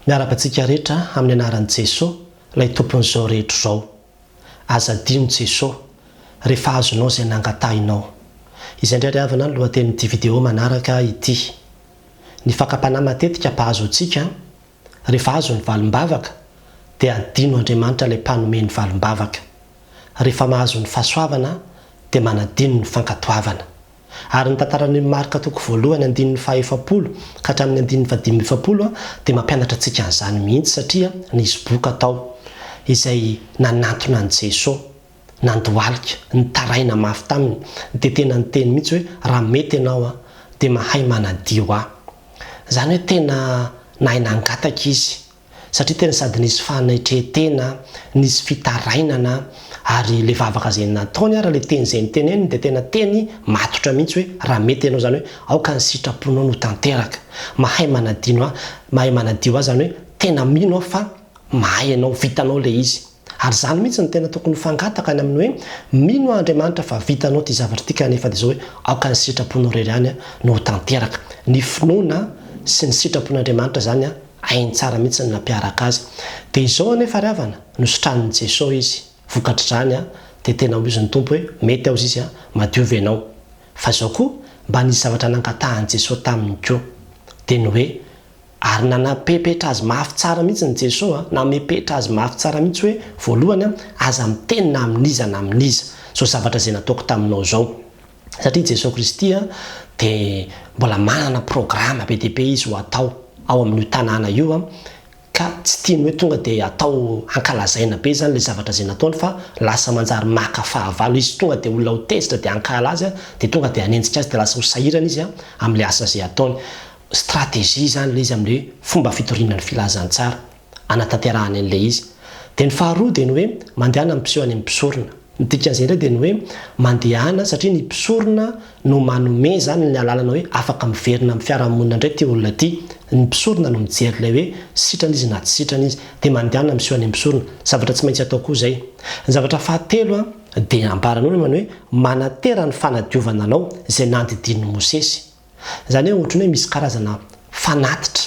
Miarahaba antsika rehetra amin'ny anaran'i Jesoa, ilay Tompon'izao rehetra izao. Aza adino Jesoa, rehefa azonao izay nangatahinao. Izay indray ry havana ny lohatenin'ity video manaraka ity. Ny fakam-panahy matetika mpahazo antsika, rehefa azo ny valim-bavaka, dia adino Andriamanitra ilay mpanome ny valim-bavaka. Rehefa mahazo ny fahasoavana, dia manadino ny fankatoavana. Ary ny tantaran'i Marka toko voalohany andininy faha efapolo ka hatramin'ny andininy fahadimy amby efapolo dia mampianatra antsika an'izany mihitsy satria nisy boka tao izay nanantona an'i Jeso, nandohalika, nitaraina mafy taminy dia tena niteny mihitsy hoe raha mety ianao an dia mahay manadio ahy. Izany hoe tena nahay nangataka izy. satria tena sady nisy fanetren-tena, nisy fitarainana ary ilay vavaka izay nataony ary ilay teny izay noteneniny dia tena teny matotra mihitsy hoe raha mety ianao izany hoe aoka ny sitraponao no tanteraka. Mahay manadino ahy, mahay manadio ahy izany hoe tena mino aho fa mahay ianao, vitanao ilay izy. Ary izany mihitsy no tena tokony ho fangataka any amin'ny hoe mino aho Andriamanitra fa vitanao ity zavatra ity kanefa dia izao hoe aoka ny sitraponao irery ihany no ho tanteraka. Ny finoana sy ny sitrapon'Andriamanitra izany Hainy tsara mihitsy ny nampiaraka azy. Dia izao anefa ry havana, nositranin'i Jeso izy. Vokatr'izany an, dia tena hoy izy ny Tompo hoe, mety aho zizy an, madio ve ianao? Fa izao koa, mba nisy zavatra nangatahan'i Jeso taminy koa. Dia ny hoe, ary nanapepetra azy mafy tsara mihitsy ny Jeso an, namepetra azy mafy tsara mihitsy hoe, voalohany an, aza miteny na amin'iza na amin'iza, izao zavatra izay nataoko taminao izao. satria i Jesoa Kristy dia mbola manana programa be dia be Izy ho atao ao amin'io tanàna io, ka tsy tiany hoe tonga dia atao hankalazaina be izany ilay zavatra izay nataony, fa lasa manjary maka fahavalo Izy, tonga dia olona ho tezitra dia hankahala Azy, dia tonga dia hanenjika Azy, dia lasa ho sahirana Izy amin'ilay asa izay ataony. Stratégie izany ilay izy amin'ilay fomba fitoriana ny Filazantsara. anatanterahany an'ilay izy. Dia ny faharoa dia ny hoe mandehana ny mpiseho any amin'ny mpisorona. Ny dikan'izay indray dia ny hoe mandehana satria ny mpisorona no manome izany ny alalana hoe afaka miverina amin'ny fiarahamonina indray ity olona ity. Ny mpisorona no mijery ilay hoe sitrana izy na tsy sitrana izy. Dia mandehana miseho any amin'ny mpisorona. Zavatra tsy maintsy atao koa izay. Ny zavatra fahatelo dia ambaran'olona ny hoe manantera ny fanadiovana anao izay nandidian'i Mosesy. Izany hoe ohatran'ny hoe misy karazana fanatitra,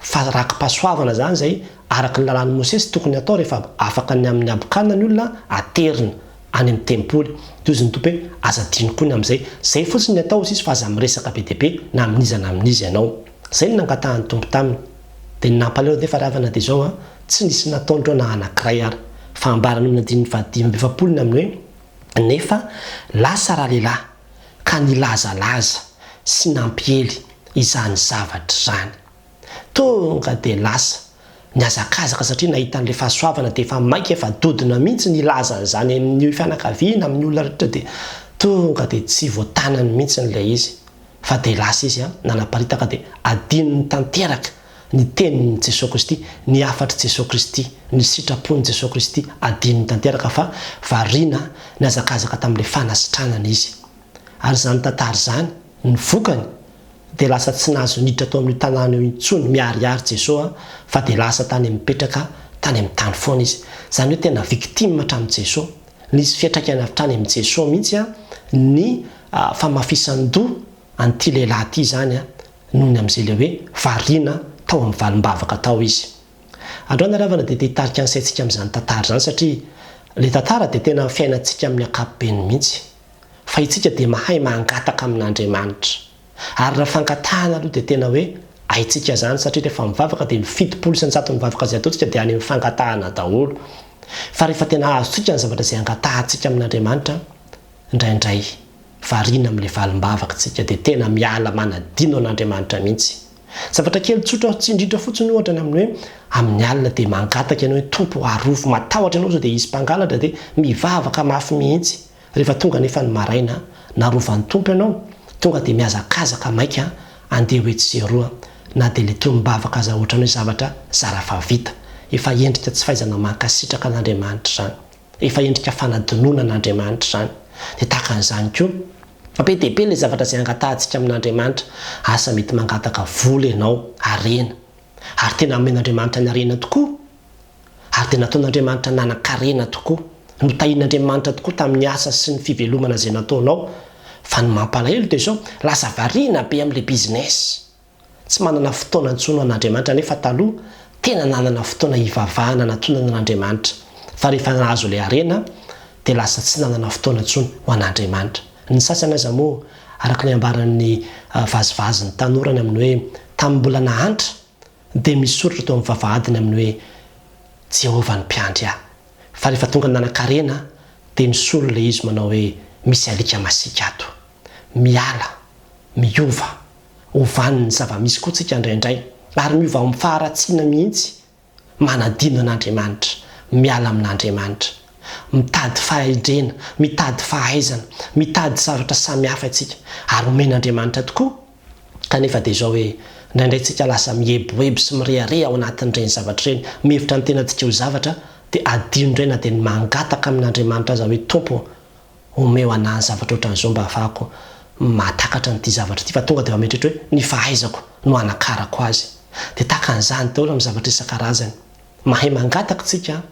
fa raki-pahasoavana izany izay araka ny lalàn'i Mosesy tokony hatao rehefa afaka ny amin'ny habokana ny olona aterina any amin'ny tempoly. Dia hoy izy ny Tompo hoe, Aza adino koa ny amin'izay. Izay fotsiny ny atao hoy izy fa aza miresaka be dia be na amin'iza na amin'iza ianao. Izay no nangatahan'ny Tompo taminy. Dia ny nampalahelo anefa ry havana dia izao an, tsy nisy nataony ireo na anankiray ary. Fa ambaran'ny olona andininy fahadimy amby efapolo ny amin'ny hoe, Nefa lasa ralehilahy. ka nilazalaza sy nampiely izany zavatra izany. Tonga dia lasa nihazakazaka satria nahita an'ilay fahasoavana dia efa maika efa dodona mihitsy nilaza an'izany amin'ny fianakaviana, amin'ny olona rehetra dia tonga dia tsy voatanany mihitsy ilay izy fa dia lasa izy nanaparitaka dia adinony tanteraka Ny tenin'i Jesoa Kristy, ny hafatr'i Jesoa Kristy, ny sitrapon'i Jesoa Kristy adinony tanteraka fa variana nihazakazaka tamin'ilay fanasitranana izy. Ary izany tantara izany, ny vokany, dia lasa tsy nahazo niditra tao amin'io tanàna io intsony miharihary Jesoa fa dia lasa tany mipetraka tany amin'ny tany foana izy. Izany hoe tena victime hatramin'i Jesoa. Nisy fiantraikany avy hatrany amin'i Jesoa mihitsy ny famafisan-doha an'ity lehilahy ity izany. noho ny amin'izay ilay hoe variana tao amin'ny valim-bavaka tao izy. Androany ny Haravana dia te hitarika ny saintsika amin'izany tantara izany satria ilay tantara dia tena fiainantsika amin'ny ankapobeny mihitsy fa itsika dia mahay mangataka amin'Andriamanitra ary raha fangatahana aloha dia tena hoe haintsika izany satria rehefa mivavaka dia ny fitopolo isan-jaton'ny vavaka izay ataontsika dia any amin'ny fangatahana daholo fa rehefa tena azontsika ny zavatra izay angatahantsika amin'Andriamanitra Indraindray, variana amin'ilay valim-bavakintsika dia tena miala manadino an'Andriamanitra mihitsy. Zavatra kely tsotra aho tsindritra fotsiny ohatra ny amin'ny hoe amin'ny alina dia mangataka ianao hoe Tompo o arovy, matahotra ianao sao dia hisy mpangalatra dia mivavaka mafy mihitsy. Rehefa tonga anefa ny maraina, narovan'ny Tompo ianao, tonga dia mihazakazaka maika andeha ho etsy sy eroa na dia ilay tonom-bavaka aza ohatran'ny hoe zavatra zara fa vita. Efa endrika tsy fahaizana mankasitraka an'Andriamanitra izany. Efa endrika fanadinoana an'Andriamanitra izany. Dia tahaka an'izany koa, fa be dia be ilay zavatra izay angatahantsika amin'Andriamanitra. Asa mety mangataka vola ianao, harena. Ary tena omen'Andriamanitra ny harena tokoa? Ary dia nataon'Andriamanitra nanan-karena tokoa? Notahin'Andriamanitra tokoa tamin'ny asa sy ny fivelomana izay nataonao? Fa ny mampalahelo dia izao, lasa variana be amin'ilay business. Tsy manana fotoana intsony ho an'Andriamanitra nefa taloha tena nanana fotoana hivavahana natonana an'Andriamanitra fa rehefa nahazo ilay harena dia lasa tsy nanana fotoana intsony ho an'Andriamanitra ny sasany aza moa araka ny ambaran'ny vazivazy ny tanora ny amin'ny hoe tamin'ny mbola nahantra dia misy soratra teo amin'ny vavahadiny amin'ny hoe Jehovah ny mpiandry ahy fa rehefa tonga nanan-karena dia misolo ilay izy manao hoe misy alika masiaka ato miala miova Ho vanin'ny zava-misy koa tsika indraindray, ary miova amin'ny faharatsiana mihitsy. Manadino an'Andriamanitra, miala amin'Andriamanitra. Mitady fahendrena, mitady fahaizana, mitady zavatra samihafa isika, ary omen'Andriamanitra tokoa, kanefa dia izao hoe, indraindray tsika lasa mieboebo sy mirehareha ao anatin'ireny zavatra ireny, mihevitra ny tenantsika ho zavatra, dia adino indray na dia ny mangataka amin'Andriamanitra aza hoe, Tompo ô, Omeo anah ny zavatra ohatran'izao mba hahafahako mahatakatra an'ity zavatra ity fa tonga dia mametrehitra hoe ny fahaizako no hanakarako azy. Dia tahaka an'izany daholo amin'ny zavatra isan-karazany. Mahay mangataka isika an!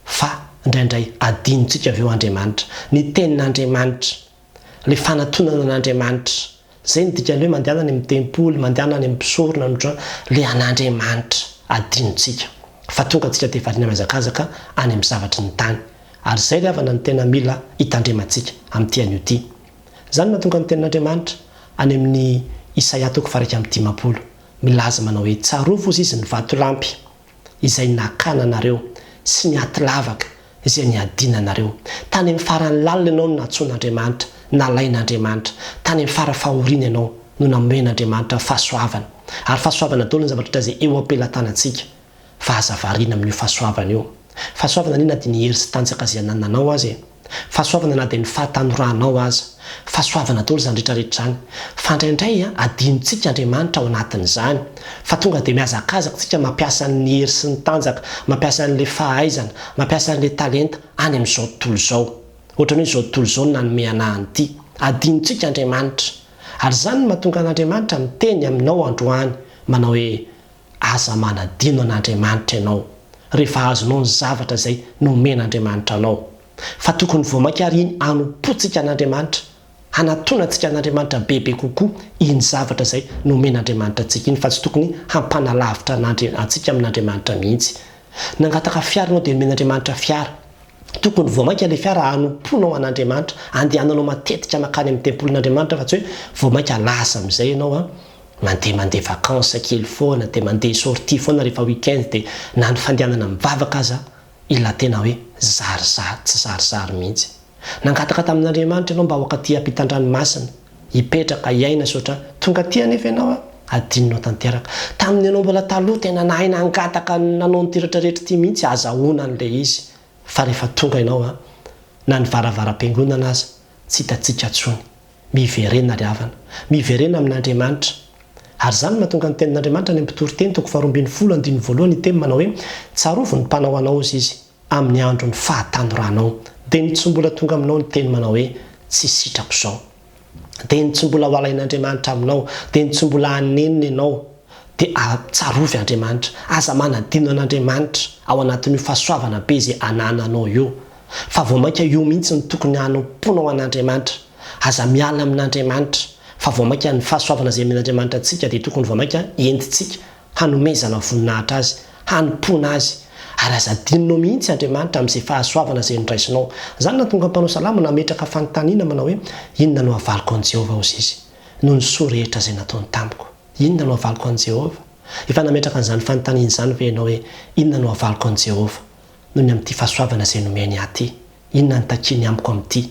fa indraindray adinontsika avy eo Andriamanitra. Ny Tenin'Andriamanitra, ilay fanatonana an'Andriamanitra Zay no dikany hoe mandehana any amin'ny tempoly, mandehana any amin'ny mpisorona no tra le an'Andriamanitra adinontsika fa tonga antsika dia variana mihazakazaka any amin'ny zavatry ny tany. Ary zay ry havana no tena mila hitandremantsika amin'ity anio ity. Zany no mahatonga ny tenin'Andriamanitra any amin'ny Isaia toko faha iraika amby dimampolo milaza manao hoe tsarovy ozy izy ny vatolampy. izay nakana anareo sy ny aty lavaka izay niadiana anareo. Tany amin'ny farany lalina ianao no nantsoin'Andriamanitra, nalain'Andriamanitra. Tany amin'ny fara fahoriana ianao no nomen'Andriamanitra fahasoavana. Ary fahasoavana daholo ny zavatra hita izay eo am-pelatanantsika, fa aza variana amin'io fahasoavana io. Fahasoavana anie na dia ny hery sy tanjaka izay anananao aza e. Fahasoavana na dia ny fahatanoranao aza. Fahasoavana daholo izany rehetra rehetra izany. Fa indraindray adinontsika Andriamanitra ao anatin'izany. Fa tonga dia mihazakazaka isika mampiasa ny hery sy ny tanjaka, mampiasa an'ilay fahaizana, mampiasa an'ilay talenta any amin'izao tontolo izao. Ohatran'ny hoe izao tontolo izao no nanome anà an'ity. Adinontsika Andriamanitra. Ary izany no mahatonga an'Andriamanitra miteny aminao androany manao hoe. Aza manadino an'Andriamanitra ianao rehefa azonao ny zavatra izay nomen'Andriamanitra anao, fa tokony vao mainka àry iny hanompoantsika an'Andriamanitra, hanatonantsika an'Andriamanitra bebe kokoa iny zavatra izay nomen'Andriamanitra antsika iny, fa tsy tokony hampanalavitra an'Andri-, antsika amin'Andriamanitra mihitsy. Nangataka fiara ianao dia nomen'Andriamanitra fiara. Tokony vao mainka ilay fiara hanompoanao an'Andriamanitra, handehananao matetika mankany amin'ny tempolin'Andriamanitra, fa tsy hoe vao mainka lasa amin'izay ianao an. Mandeha mandeha vacances kely foana dia mandeha sortie foana rehefa week-end dia na ny fandehanana mivavaka aza ila tena hoe zary zary tsy zary zary mihitsy. Nangataka tamin'Andriamanitra ianao mba ho ankatỳ hampitan-dranomasina, hipetraka, hiaina sy ohatran. Tonga aty anefa ianao an! Adinonao tanteraka. Tamin'ny ianao mbola taloha tena nahay nangataka nanao an'ity rehetra rehetra ity mihitsy azahoana an'ilay izy fa rehefa tonga ianao an! na ny varavaram-piangonana aza tsy hitantsika intsony. Miverena ry havana. Miverena amin'Andriamanitra. Ary izany no mahatonga ny tenin'Andriamanitra any amin'ny mpitory teny, toko faharoa ambin'ny folo, andininy voalohany, hiteny manao hoe, Tsarovy ny mpanao anao, hozy izy, amin'ny andron'ny fahatanoranao. Dia ny tsy mbola tonga aminao ny teny manao hoe, Tsy sitrako izao. Dia ny tsy mbola ho alain'Andriamanitra aminao. Dia ny tsy mbola hanenina ianao. Dia a, tsarovy Andriamanitra. Aza manadino an'Andriamanitra ao anatin'io fahasoavana be izay anananao io. fa vao mainka io mihitsy no tokony hanompoanao an'Andriamanitra, aza miala amin'Andriamanitra, fa vao mainka ny fahasoavana izay omen'Andriamanitra antsika dia tokony vao mainka entintsika hanomezana voninahitra Azy, hanompoana Azy, ary aza adinonao mihitsy Andriamanitra amin'izay fahasoavana izay noraisinao. Izany nahatonga ny mpanao salamo nametraka fanontaniana manao hoe, Inona no havaliko an'i Jehovah Hozizy noho ny soa rehetra izay nataony tamiko? Inona no havaliko an'i Jehovah? Efa nametraka an'izany fanontaniana izany ve ianao hoe, Inona no havaliko an'i Jehovah? noho ny amin'ity fahasoavana izay nomen'i Aty. Inona no takiany amiko amin'ity?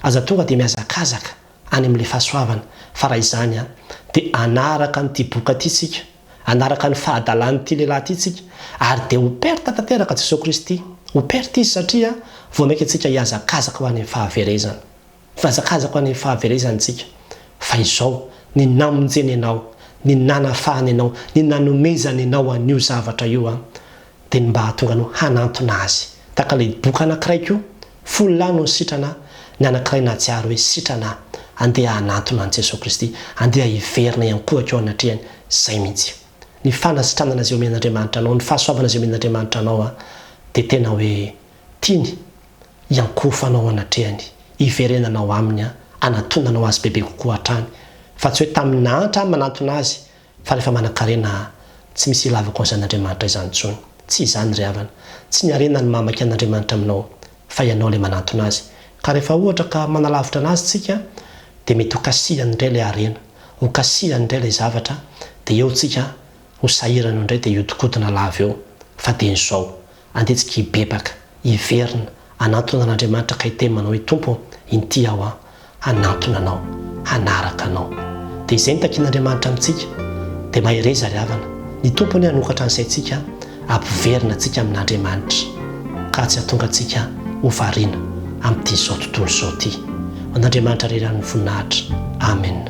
Aza tonga dia mihazakazaka any amin'ilay fahasoavana, fa raha izany an, dia hanaraka an'ity boka ity isika, hanaraka ny fahadalan'ity lehilahy ity isika, ary dia ho perte tanteraka Jesoa Kristy. Ho perte Izy satria vao mainka antsika hihazakazaka ho any amin'ny fahaverezana. Fihazakazako any fahaverezantsika, fa izao, ny namonjeny anao, ny nanafahany anao, ny nanomezany anao an'io zavatra io an, dia ny mba hahatonga anao hanantona Azy, tahaka ilay doka anankiray koa, folo lahy no nisitrana, ny anankiray nahatsiaro hoe sitrana aho, andeha hanantona an'i Jesoa Kristy, andeha hiverina hiankohaka eo anatrehany, izay mihitsy. Ny fanasitranana izay omen'Andriamanitra anao, ny fahasoavana izay omen'Andriamanitra anao an, dia tena hoe Tiany hiankohofanao ao anatrehany, hiverenana ao aminy, hanatonanao azy bebe kokoa hatrany, fa tsy hoe tamin'ny nahantra aho manantona azy, fa rehefa manankarena aho, tsy misy ilavako an'izany Andriamanitra izany intsony. Tsy izany ry havana. Tsy ny harena no mahamaiky an'Andriamanitra aminao, fa ianao ilay manantona azy. Ka rehefa ohatra ka manalavitra anazy tsika, dia mety ho kasihany indray ilay harena, ho kasihany indray ilay zavatra, dia eo tsika ho sahirana eo indray dia hihodinkodina lava eo, fa dieny izao, Andetsika hibebaka, hiverina, hanantona an'Andriamanitra ka hiteny manao hoe, Tompo ô, inty aho an, hanantona Anao, hanaraka Anao. Dia izay no takian'Andriamanitra amintsika. Dia mahereza ry havana. Ny Tompo anie hanokatra ny saintsika, hampiverina antsika amin'Andriamanitra, ka tsy hahatonga antsika ho variana amin'ity izao tontolo izao ity. Ho an'Andriamanitra irery ihany ny voninahitra. Amen.